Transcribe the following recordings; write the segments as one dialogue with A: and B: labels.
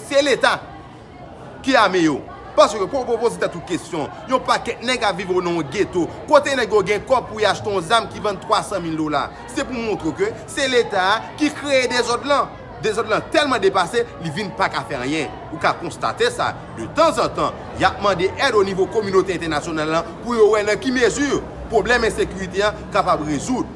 A: Se leta ki ame yo. Paske pou ou poze tèt ou kesyon, yon pakèt nèg ap viv nan yon geto, kote nèg yo gen kòb pou y achte yon zam ki vann 300 mil dola. Se pou montre ou ke se leta a ki kreye dezòd lan. Dezòd lan tèlman depase, li vin pa ka fè anyen. Ou ka konstate sa, de tanzantan, y ap mande èd o nivo kominote entènasyonal lan pou yo wè nan ki mezi pwoblèm ensekirite an kapab rezoud.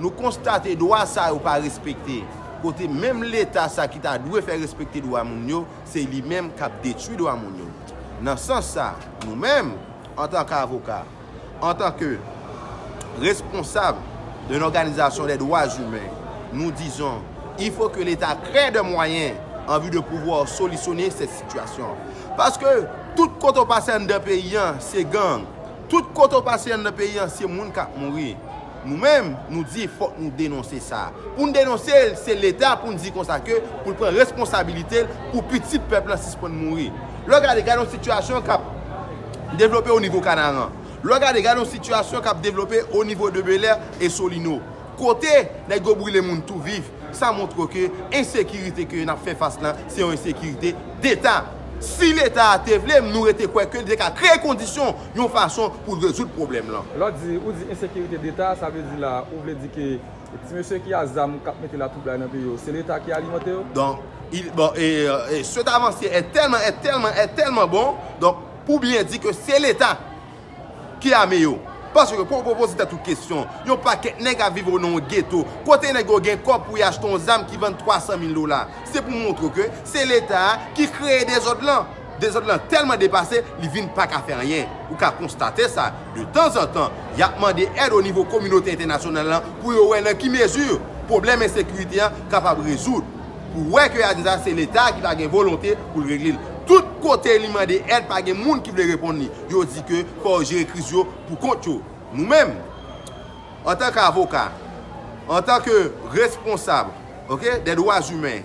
A: Nou konstate dwa sa yo pa respekte, kote menm Leta sa ki ta dwe fè respekte dwa moun yo, se li menm k ap detwi dwa moun yo. Nan sans sa, nou menm, antanke avoka, antanke responsab yon òganizasyon dè dwa imen, nou dizon, il faut que Leta crée des moyens en vue de pouvoir solutionner cette situation. Paske, tout kote ou pase anndan peyi an, se gang. Tout kote ou pase anndan peyi an, se moun k ap mouri. Nou menm, nou di fòk nou denonse sa. Pou n denonse l, se Leta pou n di konsa ke pou l pran responsabilite l pou pitit pèp lan sispann mouri. Lè w gade, gade yon sitiyasyon k ap devlope onivo Kanaran. Lè w gade, gade yon sitiyasyon k ap devlope onivo de Belè e Solino. Kote nèg yo brile moun tou viv, sa montre ke ensekirite ke n ap fè fas lan, se yon ensekirite deta. Si Leta a te vle, m nou rete kwè ke li te ka kreye kondisyon yon fason pou rezoud pwoblèm lan. Lè w di, ou di ensekirite
B: deta, sa vle di la a, ou vle di ke ti mesye ki a zam k ap mete latwoublay nan peyi yo, se leta ki alimante yo? Donk, il,
A: bon, e, e, cet avancier est tellement, est tellement, est tellement bon, donk, pou byen di ke se leta ki ame yo. Paske fò w poze tèt ou kesyon, yon pakèt nèg ap viv o nan yon geto, kote nèg yo gen kòb pou y achte yon zam ki vann 300 mil dola. Se pou montre w ke se leta a ki kreye dezòd lan. Dezòd lan tèlman depase, li vin pa ka fè anyen. Ou ka konstate sa, de tanzantan, y ap mande èd onivo kominote entènasyonal lan pou yo wè nan ki mezi pwoblèm ensekirite an kapab rezoud. Pou wè ke y a di sa, se Leta a ki pa gen volonte pou l regle l. Tout kote li mande èd, pa gen moun ki vle reponn li. Yo di ke fò yo jere kriz yo pou kont yo. Nou menm, antanke avoka, antanke responsab, ok, dè dwa zimen,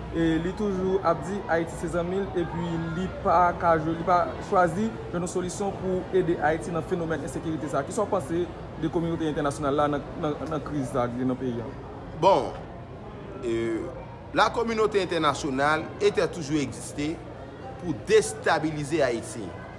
B: e li toujou ap di Ayiti se zanmi l epi li pa ka jwe, li pa chwazi jwenn yon solisyon pou ede Ayiti nan fenomèn ensekirite sa. Kisa w panse de kominote entènasyonal la nan kriz sa ki gen nan peyi an? Bon,
A: la kominote entènasyonal e tè toujou egziste pou destabilize Ayiti.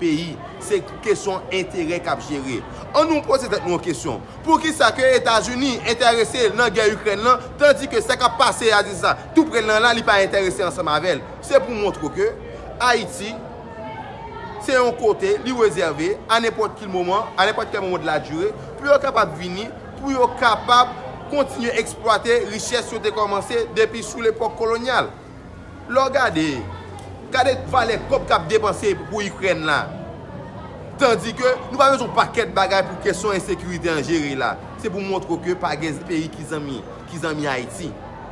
A: peyi, se kesyon enterè k ap jere. An nou poze tèt nou yon kesyon, poukisa ke Etazini enterese nan gè Ikrèn lan, tandi ke sa k ap pase a dis la tou pre l lan la li pa enterese ansanm avè l? Se pou montre ke Ayiti se yon kote li rezève a nenpòt ki moman, a nenpòt kè moman de la dure, pou yo kapab vini, pou yo kapab kontinye eksplwate richès yo te kòmanse depi sou lepòk kolonyal. Lè w gade, gade valè kòb k ap depanse pou Ikrèn la. Tandi ke nou pa bezwen yon pakèt bagay pou kesyon ensekirite an jere la. Se pou montre w ke pa gen peyi ki zanmi, ki zanmi Ayiti.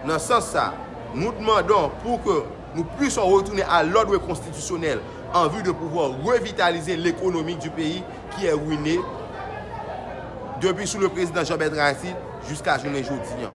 A: Nan sans sa, nou dmandon pou ke nou pwisson retounen a lòdre konstitisyonèl an vi de pouvwa revitalize lekonomi di peyi ki è rwine depi sou le prezidan Jean Bertrand Aristide jiska jounen jodi.